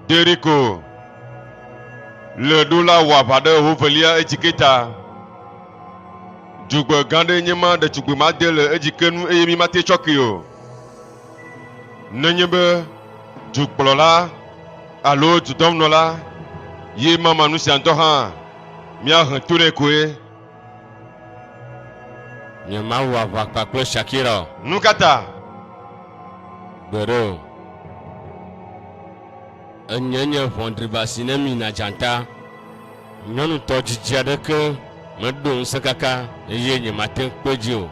Jeriko le ɖo la wɔ aʋa ɖe hovelia edzike ta. Dzogbe gã ɖe nye ma ɖetugbui made le edzike nu eye mi mate tsɔ kee o. Nenye be dukplɔla alo dudɔnunɔla ye mama nu sia ŋutɔ hã, míahe to nɛ koe. Nye Mawu aʋa kpa kple Shakira o. Nu ka ta? Gbeɖe o. Enye nye ʋɔnɖriba si ne mina dzata. Nyɔnutɔ dzidzi aɖeke meɖo ŋusẽ kaka eye nyemate ŋu kpe dzi o.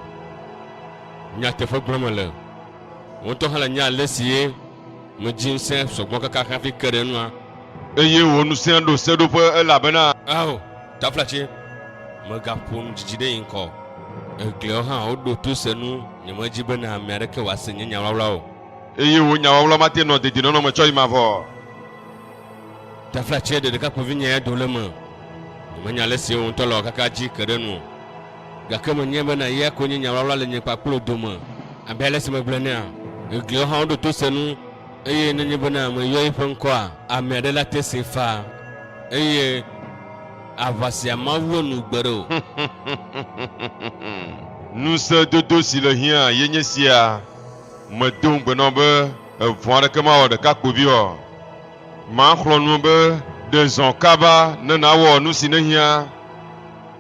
Nyateƒe gblɔm mele. Wò ŋutɔ hã le nye alesi ye medzi ŋusẽ sɔgbɔ kaka hafi ke ɖe enua. Eye wò ŋusẽ ɖo seɖoƒe elabena. Ao, taflatse, mègaƒo nu didi ɖe yin kɔ o. Egliawo hã woɖo to se nu, nyemedi bene ame aɖeke wòase nye nyawlawla o. Eye wò nyawawla mate nɔ dedienɔnɔ me tsɔ yi mavɔ o. Taflatse, ɖe ɖekakpuivinyea do le eme. Nyemenya alesi wò ŋutɔ le ɔ kaka dzi ke ɖe enu o. Gake menyae bena eya koe nye nyaʋlaʋla le nye kpakple wò dome. Abe ale si megblɔe enea, gliawo hã woɖo to se nu, eye nenye bena meyɔ eƒe ŋkɔa, ame aɖe la te see faa. Eye aʋa sia mawɔ nu gbeɖe o. Ŋusẽdodo si le hiã ye nye sia, Medo ŋugbe na wò be evɔ̃ aɖeke mawɔ ɖekakpuivi o. Maxlɔ̃ nu be ɖe zɔ kaba ne nàwɔ nu si nèhiã.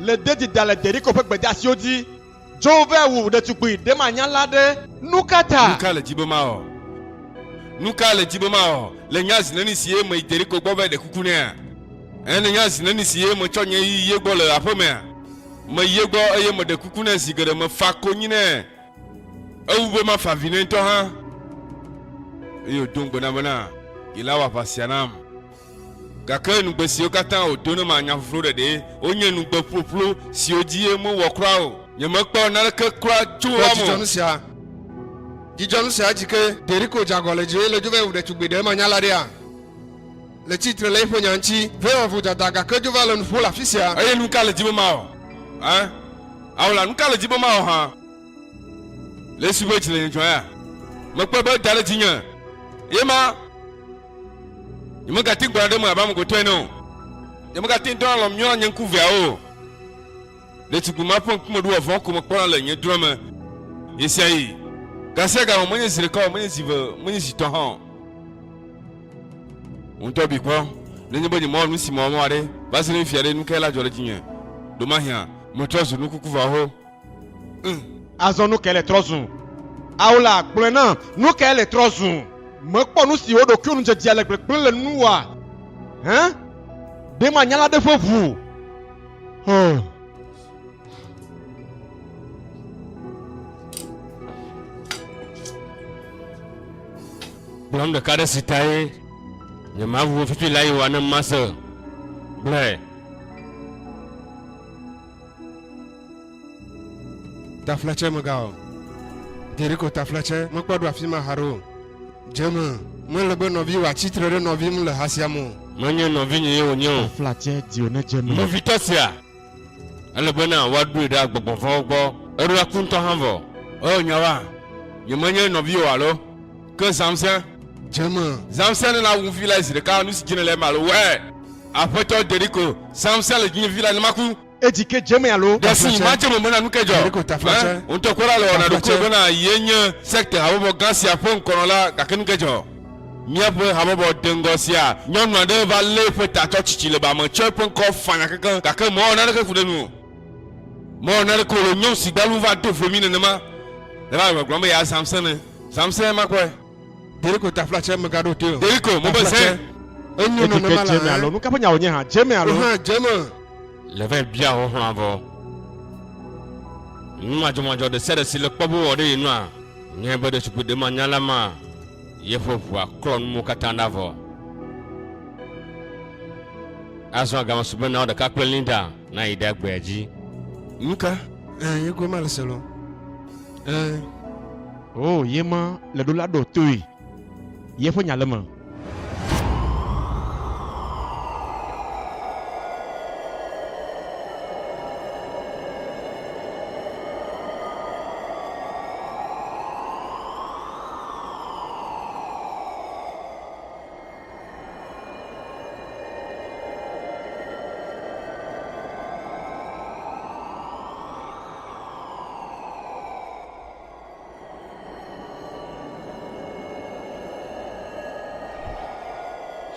Le dedie da le Yeriko ƒe gbedeasiwo dzi. Dzo vɛ wu ɖetugbui ɖemanyala aɖe. Nukata? Nuka le dzi be mawɔ? Nuka le dzi be mawɔ le nya zi neni si ye meyi Yeriko gbɔ vɛ ɖe kuku nɛa? Ẽ, ne nya zi neni si ye metsɔ nye yi ye gbɔ le aƒemea. Meyi ye gbɔ eye meɖe kuku nɛ zi geɖe, mefa konyi nɛ ewu be mafa avi nɛ ŋutɔ hã. Eye wòdo ŋugbe nam bena yela wɔ aʋa sia nam. Gake nugbe siwo katã wòdo nam anya ƒuƒlu ɖeɖee wonye nugbe ƒuƒlu siwo dzi ye mewɔ kura o. Nyemekpɔ naneke kura tso wo me o. Dzudzɔ nu sia! Dzudzɔ nu sia dzi ke! Deriko dze agɔ le dzi eye le dzo va yi wu ɖetugbui ɖe manya la ɖea? Le tsi tre le eƒe nya ŋuti. Vɛ wɔ vodada gake dzo va le nu ƒo le afi sia. Eye nu ka le dzi be mawɔ? Ẽ? Ao la, nu ka le dzi be mawɔ hã? Le Yesu ƒe dzi le nye dzɔa ya. Mekpɔe be eda ɖe dzinye eye ma. Nyemegati ŋu gblɔna ɖe eme abe ame gotɔ ene o. Nyemegati ŋu dɔna alɔm nyɔna nye ŋku veawo o. Ɖetugbui ma ƒe ŋkume ɖoa vɔ̃ ko mekpɔna le nye drɔ̃e me ɣesiaɣi. Gasiaga o, menye zi ɖeka o, menye zi eve, menye zi etɔ̃ hã o. Ŋutɔ bi kpɔ, nenye be nyemewɔ nu si mewɔ mewɔ ɖe, va se ɖe fifia ɖe, nu kae la dzɔ ɖe dzinye? Ɖomahia metrɔ zu nukukuvaho Ŋ, azɔ nukae le trɔ zu? Ao la, gblɔe nam, nukae le trɔ zu? Mekpɔ nu si wò ɖokuiwo nu dzedzea le gbegblẽ le nu oa? Hẽ? Ɖe manya la ɖe ƒe ʋu? Hɔn. Gblɔm ɖeka ɖe si tae nyemaʋu wò fifi la yi oa ne mase. Gblɔe. Taflatse mega o. Jeriko taflatse mekpɔ ɖo afi ma haɖe o. Dze me mele be nɔviwò atsi tre ɖe nɔvi ŋu le ha sia me o. Menye nɔvinye ye wònye o. Taflatse dio ne dze me. Nɔvitɔ sia, ele be na woaɖoe ɖe agbɔgbɔ vɔ̃wo gbɔ. Eɖo aku ŋutɔ hã vɔ. Oo, nyawoa, nyemenye nɔviwò alo? Ke zãmse. Dze me. Zãmse nena wu vi lae zi ɖeka, nu si dzi nèle eme alo wɔe. Aƒetɔ, dze ɖi ko. Zãmse le dzinye vi lae ne maku. Edzi ke dze me alo. Ɖe si madze me mena nu ke dzɔ. Ẽ, wò ŋutɔ kpɔ ɖa le wɔna ɖokuiwò bena ye nye sekte habɔbɔ gã sia ƒe ŋkɔnɔla, gake nu ke dzɔ. Míaƒe habɔbɔ deŋgɔ sia, nyɔnu aɖe va lée ƒe ta tsɔ tsitsi le ba me tsɔe ƒe ŋkɔ fanya kekeŋ, gake mewɔ naneke ku ɖe enu o. Mewɔ nane ko le nyɔnu si gbalu va do vlo mi nenema le va le gblɔm be ya zamse ne zamse ma kɔe. Deriko ta fla tse mega ɖo toe o. Deriko mo be zɛ. Enyo nɔ ne ma la hã. Alo nu kaƒe nyawo nye hã jeme alo. Hã jeme. Le va bia ho hã vɔ. Nu ma jɔ ma jɔ de se de si le kpɔ bo wɔ de ye nua. Nye be de sukui de ma nya la ma. Ye fo vua klɔ nu mo kata na vɔ. Azɔ agama sugbe na o de ka kple Linda. Na yi ɖa gbea dzi. Nuka? Ẽ, ye goe ma le se lɔ. Ẽ. O, ye ma le ɖo la ɖɔ toe. Ye ƒe nya le me.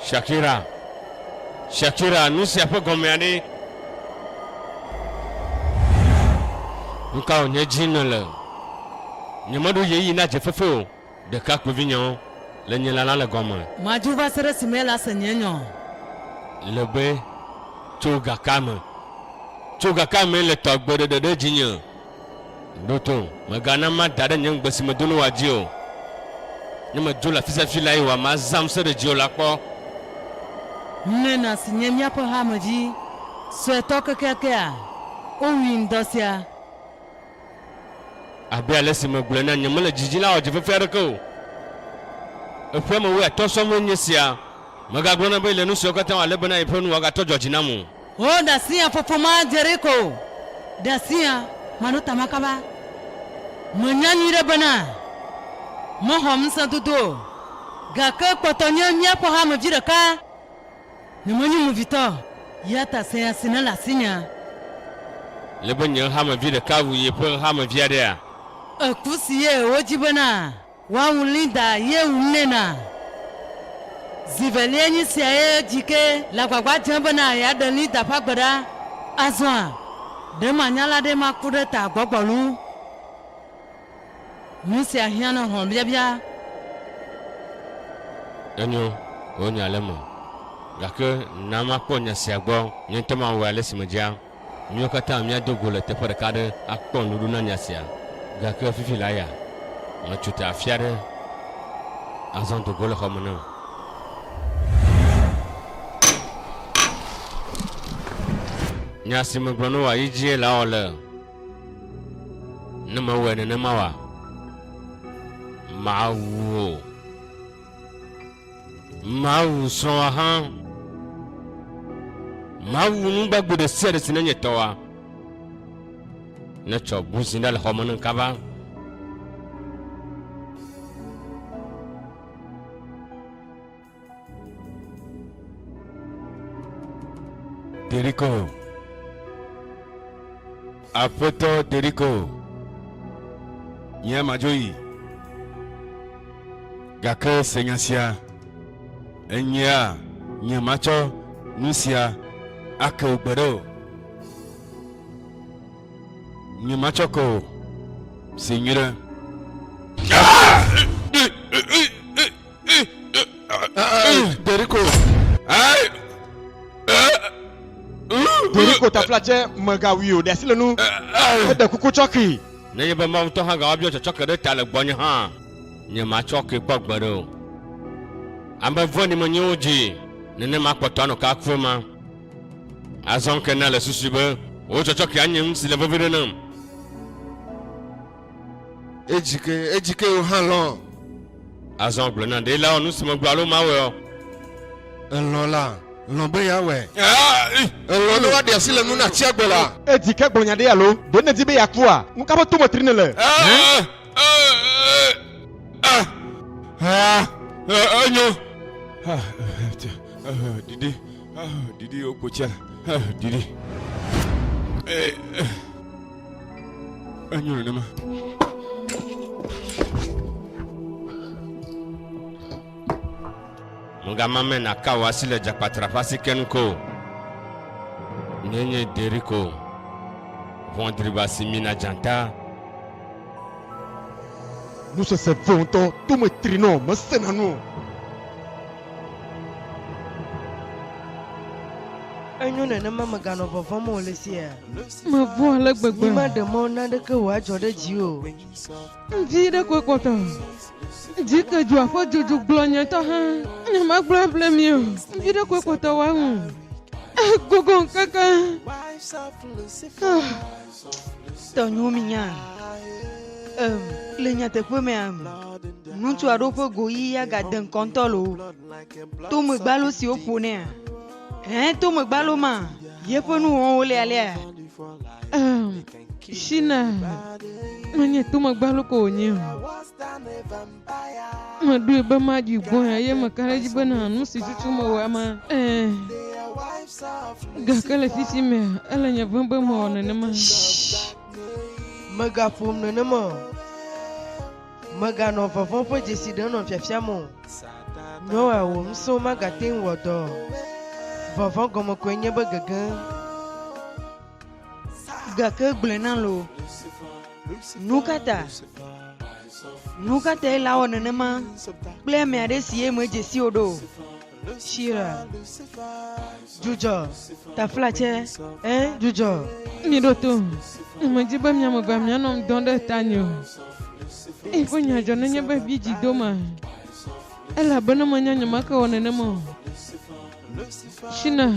Shakira. Shakira, nu sia ƒe gɔmea ɖe? Nu ka wònye dzi nèle? Nyemeɖo yeyi na dzefefe o. Ɖekakpuivinyawo le nye lalam le gɔme. Madzo va se ɖe esime ele ase nye nya. Le be, Tso gakea me. Tso gakea me le tɔ agbe ɖeɖe ɖe dzinye. Ɖo to, mègana mada ɖe nye ŋugbe si medo na wòa dzi o. Ne medzo le afi sia afi lae wòa mazãm se ɖe dziwò la kpɔ. Mena si nye míaƒe hamedzi suetɔ kekeakea, wowui ŋdɔ sia. Abe ale si megblɔe na nye mele dzi dzi la, ɔdzi vevi aɖeke o. Eƒe ame wuiatɔ̃ sɔ vɔe nye esia. Megagblɔ nɛ be le nu siwo katã wòalé be na yeƒe nu wòagatɔ dzɔdzi nam o. O ɖasia fofo ma dzere ko o. Ɖasia maɖo ta ma kaba. Menya nyuiɖe bena mexɔ ŋusẽdodo o. Gake kpɔtɔ nye míaƒe hamevi ɖeka. Nyemenye movitɔ o, eya ta se nya si nele asinyea. Le be nye hamevi ɖeka wu yeƒe hamevi aɖea? Eku si ye wodi bena woawu Linda ye wum nɛ na. Zi velia nyi sia ye Dike le agbagba dzem bena yeaɖe Linda ƒe agbe ɖa. Azɔa, ɖe manya la ɖe maku ɖe ta gbɔgbɔ loo. Nu sia hiã ne hlɔ̃biabia. Enyo, wò nya le eme. Gake na makpɔ nya sia gbɔ nye ŋutɔ mawɔe ale si medzea. Míawo katã míado go le teƒe ɖeka aɖe akpɔ nuɖuɖu na nya sia. Gake fifi la ya, metso te afi aɖe azɔ do go le xɔ me ne wò. Nya si megblɔ ne wò ayi dzie lawɔ le. Ne mewɔe nenema oa, mawu wò. Mawu srɔ̃a hã. Mawu nu gbagbe ɖe sia ɖe si nenye tɔa. Netsɔ buzi ɖe le xɔ me ne kaba. Deriko. Aƒetɔ Deriko. Nye madzo yi. Gake se nya sia. Enyea nye matsɔ nu sia ake wò gbe ɖe o. Nye matsɔ ke o. Se nyuie ɖe. Deriko. Deriko tafla tsɛ mègawui o, ɖe asi le nu. Eɖe kuku tsɔki. Nenye be Mawu ŋutɔ hã gawa biɔ tsɔtsɔke ɖe ta le gbɔnye hã, nye matsɔ ke kpɔ gbeɖe o. Ame vɔ̃ɖi menye wo dzi nenema kpɔtɔ anɔ ke aku ema. Azɔ ŋke na le susui be wò tsɔtsɔke anye nu si le vevi ɖe nam. Edzike, edzike wò hã lɔ. Azɔ gblɔ na ɖe la wɔ nu si megblɔ alo mawɔe o. Elɔ la, lɔ be yeawɔe. Elɔ ne woaɖe asi le nu na tsia gbɔ la. Edzike gblɔ nya ɖe alo? Ɖe nèdi be yeakua? Nu ka ƒe to me tri nèle? Enyo. Ɖiɖi, ɖiɖi wò kpo tsia, ɖiɖi. Enyo nenema. Mɔgamame naka wò asi le dzakpatra ƒe asi ken ko. Nyenye Deriko. Vɔndriba si mina dzata. Nusese vɔ ŋutɔ to me tri nɔ mesena nu o. Enyo nenema meganɔ vɔvɔm o le sia. Mevɔ̃ ale gbegbe. Nyimaɖe mɔ naneke wòadzɔ ɖe dziwò o. Ŋdi ɖe koe kpɔtɔ. Dzi ke dua ƒe dzodzo gblɔ nye ŋutɔ hã. Ne magblɔ able mi o, ŋdi ɖe koe kpɔtɔ wòaŋu. Egogo ŋkeke. Tɔ nyo mi nya. Em, le nyateƒe me am. Ŋutsu aɖewo ƒe go ɣi ya gade ŋkɔ ŋutɔ loo. To megbalo siwo ƒonɛa. Ɛɛ, to megbalo ma, yeƒe nuwɔwɔwo lialia. Ɛɛ, Shina, menye to megbalo ko wònye o. Meɖoe be maɖi gbɔe eye meka ɖe edzi bena nu si tutum mewɔa ma. Ɛɛ, gake le fisi mea, ele nye vem be mewɔ nenema. Shh, mègaƒom nenema o. Mèganɔ vɔvɔ̃ ƒe dzesi ɖe nɔ fiafiam o. Nyoa wò ŋusẽwo magate ŋu wɔ dɔ o. Vɔvɔ̃ gɔme koe nye be gege. Gake gblɔe nam loo, nukata? Nukatae le awɔ nenema kple ame aɖe si ye medze si o ɖo? Shira, dzudzɔ, taflatsɛ, ẽ, dzudzɔ. Miɖo tom, nyemedi be miame evea mianɔ ŋdɔ ɖe tanye o. Eyi ƒe nya dzɔ nenye be mi dzi doma, elabe ne menya nyemake wɔ nenema o. Shina,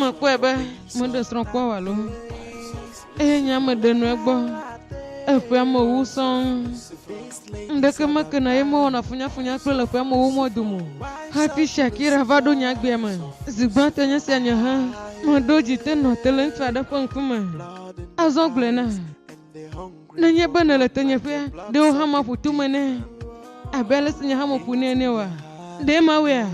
Mekpɔe be meɖe srɔ̃ kpɔ wò alo me. Eye nye ame ɖe nu egbɔ. Eƒea me wu sɔŋ. Ŋɖeke meke na ye mewɔna funyafunya kple le ƒea me wu mɔ dome. Hafi Shakira va ɖo nye agbea me. Zi gbãtɔ nye sia nye hã. Meɖo dzi te nɔ te le ŋutsu aɖe ƒe ŋkume. Azɔ gblɔe na. Nenye be nèle tenyeƒea, ɖe wò hã maƒu tome nɛ abe ale si nye hã meƒu nɛ ene oa? Ɖe mawɔea?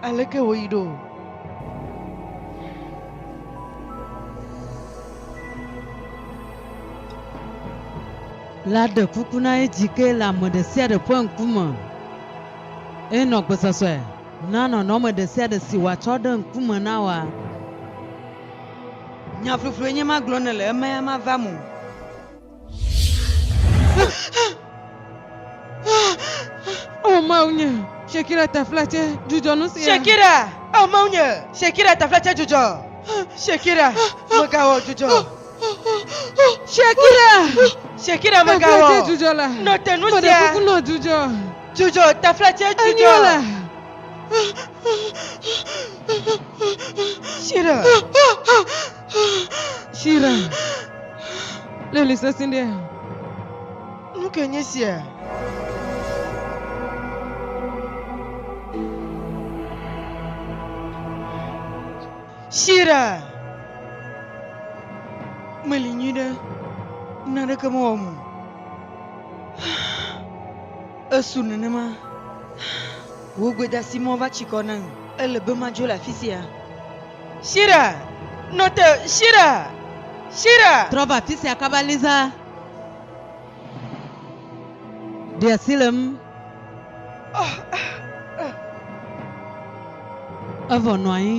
Aleke wòyi ɖo? La ɖe kuku na edzi ke le ame ɖe sia ɖe ƒe ŋkume. Eye nɔ gbesɔsɔe na nɔnɔme ɖesiaɖe si wòatsɔ ɖe ŋkume na woa? Nya fluflue nye ma gblɔm nèle, emea mava me o. O Mawnye, Shakira tafla tse dzudzɔ nu sia. Shakira, O Mawnye, Shakira tafla tse dzudzɔ. Shakira, Megawɔ dzudzɔ. Shakira, Shakira, Megawɔ. Tafla tse dzudzɔ la. Nɔ te nu sia. Meɖe kuku nɔ dzudzɔ. Dzudzɔ, tefletse dzudzɔ. Enyo le. Shira. Shira. Leli sesẽ ɖe. Nu ke nye sia? Shira. Meli nyuiɖe. Naneke mewɔ mo. Esu nenema. Wò gbedasimɔ va tsi kɔ nam. Ele be madzo le afi sia. Shira! Nɔ te! Shira! Shira! Trɔ va afi sia kaba, Lisa. Ɖe asi le ŋu. Evɔ nɔ anyi.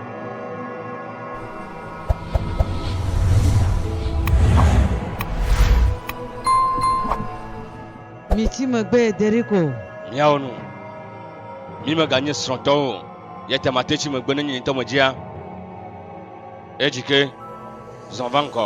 Mitsi megbe Yeriko. Miawo nu. Mi meganye srɔ̃tɔwo o. Yete mate tsi megbe ne nye ŋutɔ medzia. Edzike zɔn va ŋgɔ.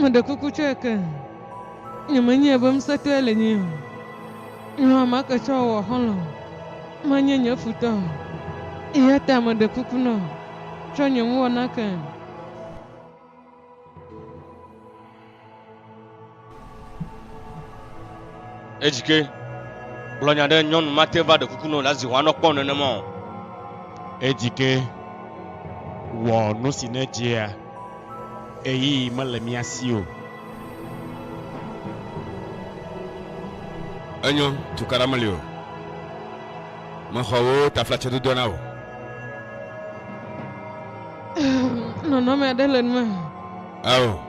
Meɖe kuku tsɔe ke nyemenyae be ŋusẽtɔe le nyee o. Nɔ ame ke tsɔ wɔ xɔlɔ̃ menye nye futɔ o. Eya ta meɖe kuku nɔ tsɔ nye nuwɔna ke. Edzike, gblɔ nya ɖe nyɔnu mate va ɖe kuku nɔ la zi hwanɔ kpɔ nenema o. Edzike, wɔ nu si ne dzea eyi mele mia si o. Enyo, tukaɖa meli o. Mexɔ wò taflatse dodoa na wò. Nɔnɔme aɖe le nume. Ao.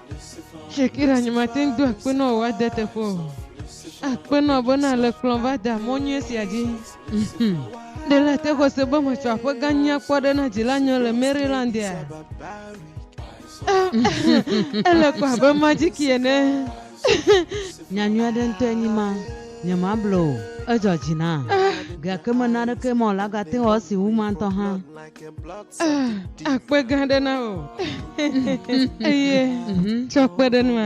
Shakira nye mate ŋu do akpe na wò woade teƒe o. Akpe na wò be na le kplɔm va da mɔ nyuie sia dzi. Mhmm. Ɖe la te xɔse be matsɔ aƒe gã nyui akpɔ ɖe na dzila nyɔ le Marylandia? Ele ko abe majiki ene. Nya nyui aɖe ŋutɔe nyi ma. Nyemable o. Edzɔ dzi nam. Gake mena aɖeke mɔ wòlagate wɔ esi wu ma ŋutɔ hã. Ah, akpe gã aɖe na wò eye tsɔ kpe ɖe nua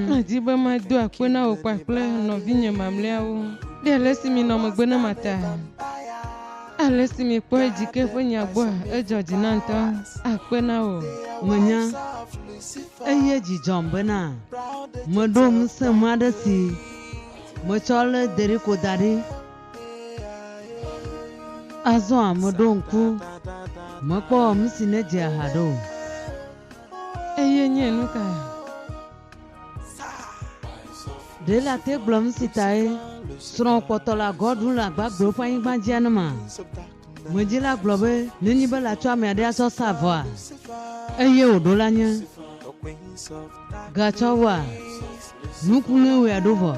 madi be mado akpe na wò kpakple nɔvinye mamlɛawo ɖe ale si mi nɔ megbe ne mata ale si mi kpɔe dzi ke ƒe nya gbɔa edzɔ dzi na ŋutɔ akpe na wò menya eye dzidzɔm bena meɖo ŋusẽ ma ɖe si metsɔ lé deriko da ɖi Azɔa meɖo ŋku mekpɔ nu si nedzea ha ɖo o. Eye nye nu ka? Ɖe ele ate gblɔ nu si tae srɔ̃ kpɔtɔ la gɔ ɖu le agba gblɔ ƒe anyigba dzia ne ma? Medzi la gblɔ be nenye be latsɔ ame aɖe asɔ sa vɔa? Eye wòɖo la nye. Gatsɔ wɔ nuku ne wòe aɖo vɔ.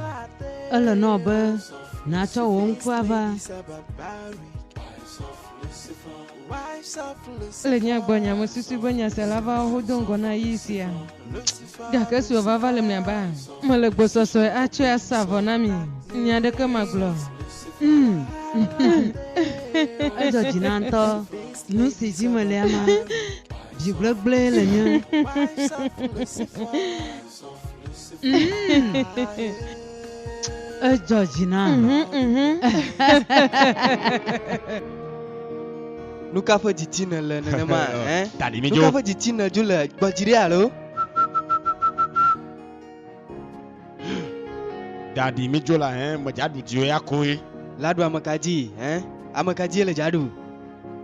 Ele nɔ be nàtsɔ wò ŋku ava. Le nya gbɔ nya mesusu be nyasela va ho do ŋgɔ na yi sia. Gake sua va va le mia ba. Mele gbɔsɔsɔe atsɔe asa vɔ na mi. Nya ɖeke magblɔ. Mm. Edzɔ dzi na ŋtɔ. Nu si dzi mele ama. Dzi gblegble le nye. Edzɔ dzi na. Nu ka ƒe didi nèle nenema? eh? Tadi mi Nu dzo. ka ƒe didi nèdzo le gbɔdziri alo? Ɖaɖi mi dzola hẽ me dza ɖu dziwo ya koe. La ɖu ame ka dzi hẽ? Ame ka dzie le dza ɖu?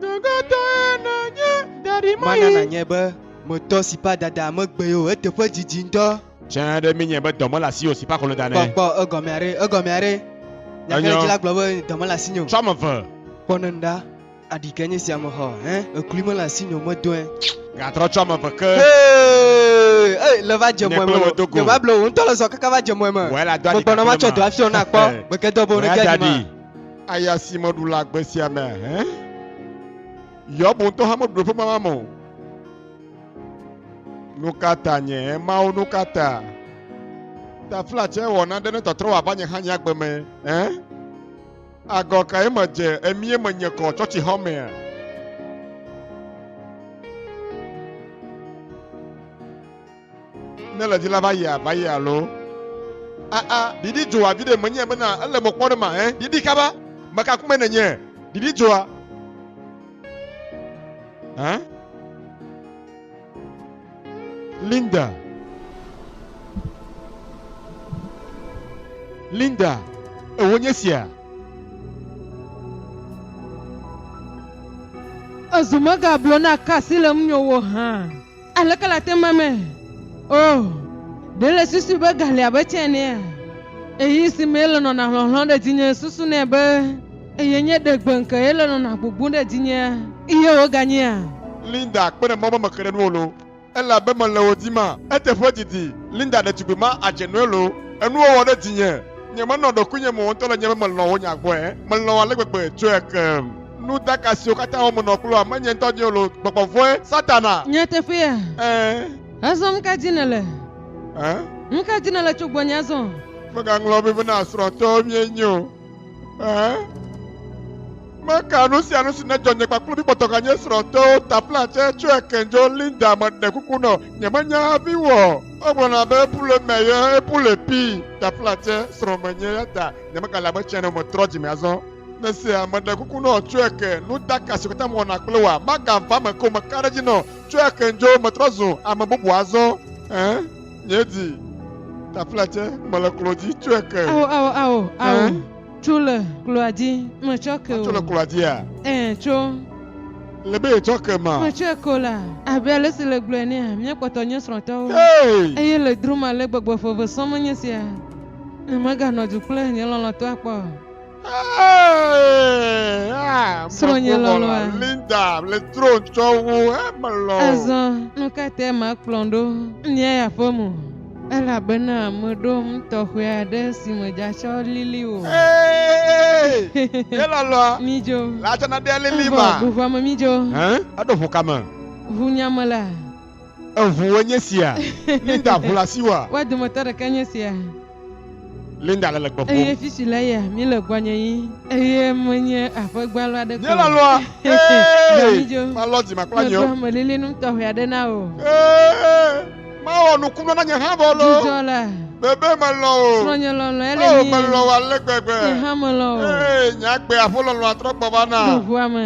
Ɖogatɔe nènye ɖaɖi mayi. Mana nanye be me tɔ si pa dada me gbe yo eteƒe didi ŋdɔ. Tsɛ ɖe mi nye be dɔ mele asi yo si pa kolo da nɛ. Kpɔ kpɔ egɔmea ɖe egɔmea ɖe. Nya ka ɖe dzi la gblɔ be dɔ mele asi nyo. Tsɔ ame ve. Kpɔ ne ŋɖa. Aɖi kae nye sia mexɔ hẽ? Eklui mele asinye o, medɔe. Gatrɔ tso ame eve ke. Hee! Ei, le va dze mɔe me o. Nye Bible wò ŋutɔ le zɔ kaka va dze mɔe me. Megbɔna matsɔ dɔ afiɔ na kpɔ. Gbeke dɔ be wò nege aɖi ma. Aya si meɖu le agbe sia mea, hẽ? Yob ŋutɔ hã meɖu ɖoƒe mama me o. Nu ka ta nye Mawu? Nu ka ta? Taflatse wɔ naɖe ne tɔtrɔ wòava nye hã nye agbe me, hẽ? Agɔ kae medze emie menye kɔ tsɔtsixɔ mea? Ne le dzila va yia va yia alo aa ɖiɖi dzoa vi ɖe menye bena ele mɔ kpɔ ɖe ma ɛ ɖiɖi kaba meka kume nenye ɖiɖi dzoa ɛ Linda Linda, èwo nye sia? Ezu megablo na kasi le ŋunye wo hã. Aleke le ate ma me? Oh, ɖe le susu be ga li abe tsɛ enea? Ɣeyiɣi si mee le nɔna hlɔ̃hlɔ̃ ɖe dzinye susu nɛ be. Eye nye ɖe gbe ŋke ye le nɔna gbogboŋ ɖe dzinyea? Eye woganyea? Linda kpɔnɛ mɔ be meke ɖe nuwo lo elabe mele wo dim a? Eteƒe didi, Linda ɖetugbui ma adze nɔe lo enuwo wɔ ɖe dzinye. Nye menɔ ɖokuinye mo ŋutɔ le nye be melɔ̃ wo nya gbɔe. Melɔ̃ ale gbegbe tsɔe ke nu daka siwo katã wɔm menɔ kloa menye ŋutɔ dim o lo gbɔgbɔ vɔ̃e, Satana. Nyateƒea? Ẽ. Azɔ nuka dim nèle? Ẽ. Nuka dim nèle tso gbɔnye azɔ? Mègaŋlɔ be be na srɔ̃tɔwo míenye o. Meka nu sia nu si nedzɔ nye kpakple mi kpɔtɔ ganye srɔ̃tewo ta platsɛ tso ekendzo Linda meɖe kuku nɔ nyemenya hafi wɔ. Egblɔna be ebu le eme ye ebu le pi ta platsɛ srɔ̃ menye ya ta nyemegale abe tsɛ ne metrɔ dzime azɔ. Mesia meɖe kuku nɔ tso eke nudaka si katã mewɔna kple wòa magava me ko meka ɖe edzi nɔ tso ekendzo metrɔ zu ame bubu azɔ. Míedi taflatse mele klo dzi tsɔe ke. Ao ao ao ao. Ɛɛ? Tso le kloa dzi metsɔ ke o. Tso le kloa dzia? Ɛɛ tso. Le be yetsɔ ke ma. Metsɔe ke o la. Abe ale si le gblɔe nea míakpɔtɔ nye srɔ̃tɔwo. Hey! Eye le drum ale gbegbe ƒe ve sɔm menye sia. Ne meganɔ du kple nye lɔlɔ̃tɔa kpɔ. Srɔ̃nye lɔlɔ̃a. Linda le tro tsɔ wu emelɔ. Azɔ nu ka tae makplɔm ɖo Nia ya ƒe mo? Elabena meɖo nu tɔxɛ aɖe si medzatsɔ lili o. Ee, ye lɔlɔ̃a. Midzo. Latsana ɖe lili ma. Evɔ ʋuʋua me midzo. Hẽ? Eɖo ʋu ka me? Ʋunya me la. Eŋuwoe nye sia. Linda ʋu le asiwòa? Woa dometɔ ɖeka nye sia. Linda le le gbe ƒum. Eye fifi le ya, mi le gbɔnye yi. Eye menye aƒe gbalo aɖe ko. Nye la lɔa. Ee, malɔ dzi makpla nye. Meɖo amelilinum tɔxɛ aɖe na wò. Ee, mawɔ nukunu na nye hã vɔ loo. Dzidzɔ la. Bebe melɔ o. Srɔ̃nye lɔlɔ ele mi. Oo, melɔ wò ale gbegbe. Nye hã melɔ wò. Ee, nye agbe aƒo lɔlɔa trɔ gbɔ va na. Ɖo ŋua me.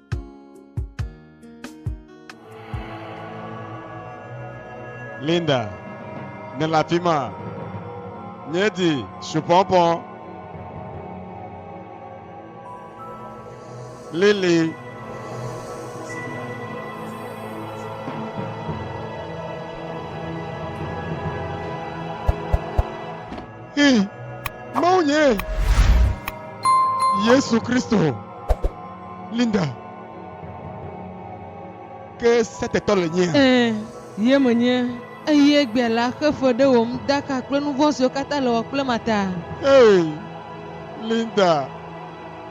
Linda, nèle afi ma? Míedi supɔpɔ. Lili. Hii, Mawu nye Yesu Kristo. Linda, ke setetɔ le nyea? Ẽ, ye menye. Eye egbea la, xe fe ɖe wò ŋudaka kple nu vɔ̃ siwo katã le wɔ kple ma ta. Hey, Linda,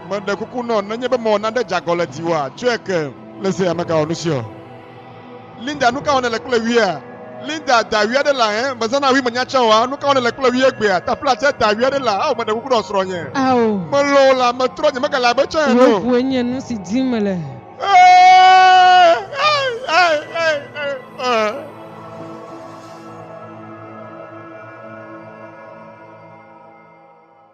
meɖe kuku nɔ, nenye be mewɔ nane dzeagɔ le dziwòa, tsɔe ke. Le se ya megawɔ nusiɔ. Linda, nuka wɔ nèle kple wia? Linda, da wia ɖe la, hẽ? Mezãna wi menya tsɛ oa? Nuka wɔ nèle kple wia egbea? Tafla tsɛ, da wia ɖe la, ao meɖe kuku ɖɔ srɔ̃nye. Ao. Melɔ̃ wò la, metrɔ nye megale abe tsã ene o. Wò koe nye nusi dim mele.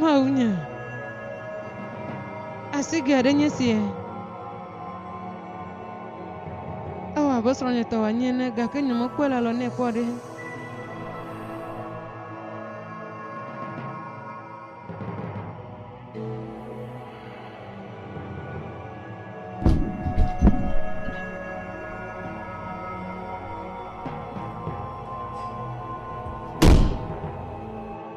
Mawunya. Asigɛ aɖe nye sia. Ewɔ abe srɔ̃nye tɔ wòanyi ene, gake nyemekpɔe le alɔ nɛ kpɔ ɖe.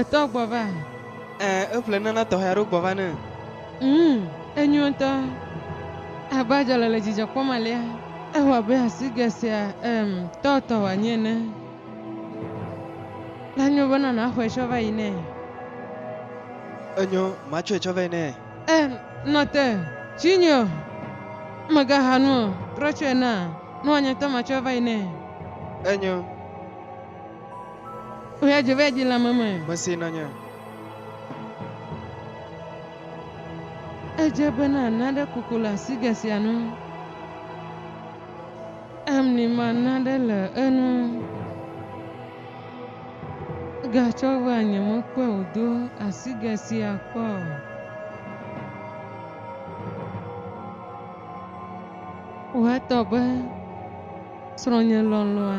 Etɔ gbɔ va. Ẽ, eƒle nana tɔxɛ aɖewo gbɔ va ne. Ŋ, enyo ŋutɔ. Abe adzɔle le dzidzɔ kpɔm alea. Ewɔ abe asigɛ sia, em, tɔ tɔ wòanyi ene. La nyo be nana xɔe tsɔ va yi nɛ. Enyo, matsɔe tsɔ va yi nɛ. Ẽ, nɔ te, tsi nyi o. Mègaha nu o, trɔ tsɔe na, ne wòanye ŋutɔ matsɔe va yi nɛ. Enyo. Mesi nènye. Edze be nàna ɖe koko le asigɛ sia nu. Emni mana ɖe le enu. Gatsɔ vea nyemekpɔe wòdo asigɛ sia kpɔ o. Woatɔ be srɔ̃nye lɔlɔ̃a.